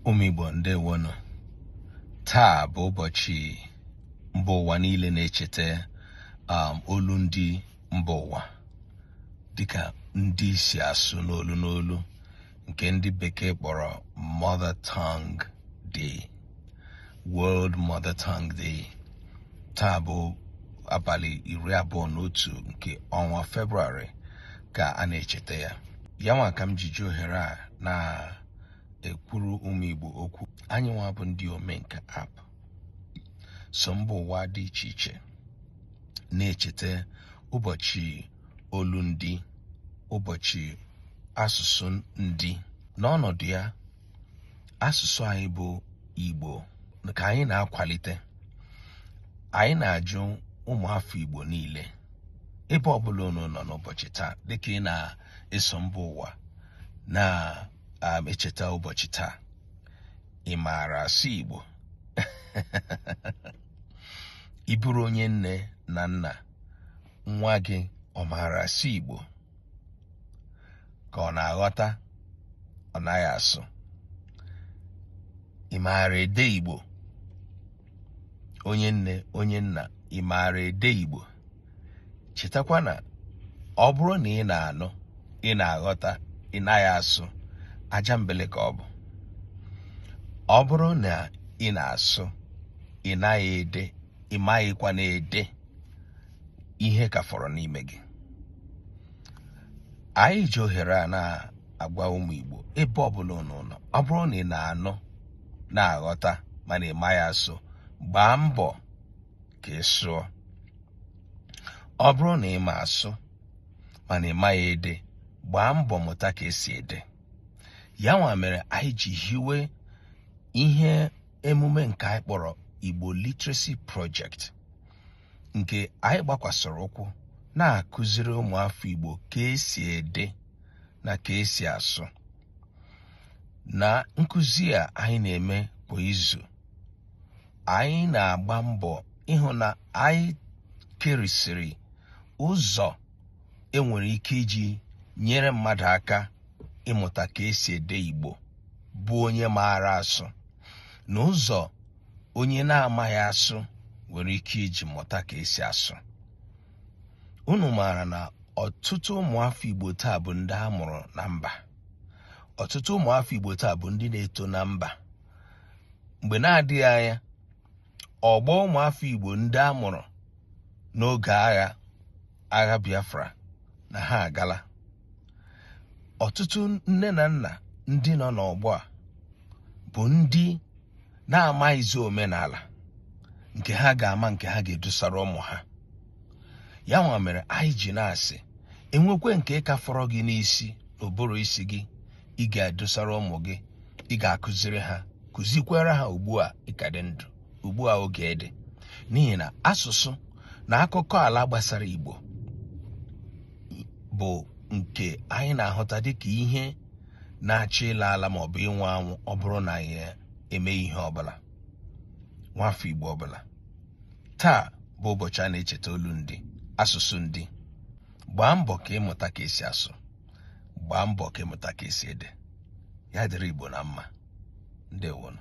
ụmụ Igbo ndewonụ taa bụ ụbọchị mba ụwa niile na-echeta um, olu ndị mba ụwa dịka ndị si asụ n'olu n'olu nke ndị bekee kpọrọ mother tongue day world mother tongue day taa bụ abalị iri abụọ na otu nke ọnwa febrụwarị ka a na-echeta ya ya nwa ka m jiji ohere a na-ekwuru ụmụ Igbo okwu anyị nwa bụ ndị omenka app so mba ụwa dị iche iche na-echeta ụbọchị olu ndị ụbọchị asụsụ ndị n'ọnọdụ ya asụsụ anyị bụ Igbo ka anyị na-akwalite anyị na-ajụ ụmụafọ Igbo niile ebe ọbụla unu nọ n'ụbọchị taa dịka ị na-eso mba ụwa na-echeta um, ụbọchị taa ị maara asụ Igbo ị bụrụ onye nne na nna nwa gị ọ maara asụ Igbo ka ọ na-aghọta ọ naghị asụ ị maara ede Igbo onye nne onye nna ị maara ede Igbo chetakwa na ọ bụrụ na ị na-anụ ị na-aghọta ị naghị asụ aja mbele ka ọ bụ ọ bụrụ na ị na-asụ ị naghị ede ị maghịkwa na-ede ihe ka fọrọ n'ime gị anyị ji ohere a na-agwa ụmụ Igbo ebe ọbụla unu nọ ọ bụrụ na ị na-anụ na-aghọta mana ị maghị asụ gbaa mbọ ka ị sụọ ọ bụrụ na ị ma asụ mana ị maghị ede gbaa mbọ mụta ka esi ede ya nwa mere anyị ji hiwe ihe emume nke anyị kpọrọ Igbo Literacy Project nke anyị gbakwasịrị ụkwụ na-akụziri ụmụafọ Igbo ka esi ede na ka esi asụ na nkụzi a anyị na-eme kwa izu anyị na-agba mbọ ịhụ na anyị kerisịrị ụzọ enwere ike iji nyere mmadụ aka ịmụta ka esi ede Igbo bụ onye maara asụ na ụzọ onye na-amaghị asụ nwere ike iji mụta ka esi asụ unu maara na ọtụtụ ụmụafọ Igbo taa bụ ndị a mụrụ na mba ọtụtụ ụmụafọ Igbo taa bụ ndị na-eto na mba mgbe na-adịghị anya ọgbọ ụmụafọ Igbo ndị a mụrụ n'oge agha agha Biafra na ha agala ọtụtụ nne na nna ndị nọ n'ọgbọ a bụ ndị na-amaghịzi omenala nke ha ga-ama nke ha ga-edusara ụmụ ha ya nwa mere anyị ji na-asị enwekwe nke ka fọrọ gị n'isi n'ụbụrụ isi gị ị ga-edosara ụmụ gị ị ga-akụziri ha kụzikwara ha ugbu a ị ka dị ndụ ugbu a oge dị n'ihi na asụsụ na akụkọ ala gbasara Igbo bụ nke anyị na-ahụta dịka ihe na-achọ ịla ala ma ọ bụ ịnwụ anwụ ọ bụrụ na anyị eme ihe ọbụla nwafọ Igbo ọbụla taa bụ ụbọchị a na-echeta olu ndị asụsụ ndị gbaa mbọ ka ị mụta ka esi asụ gbaa mbọ ka ị mụta ka esi ede ya dịrị Igbo na mma ndewonụ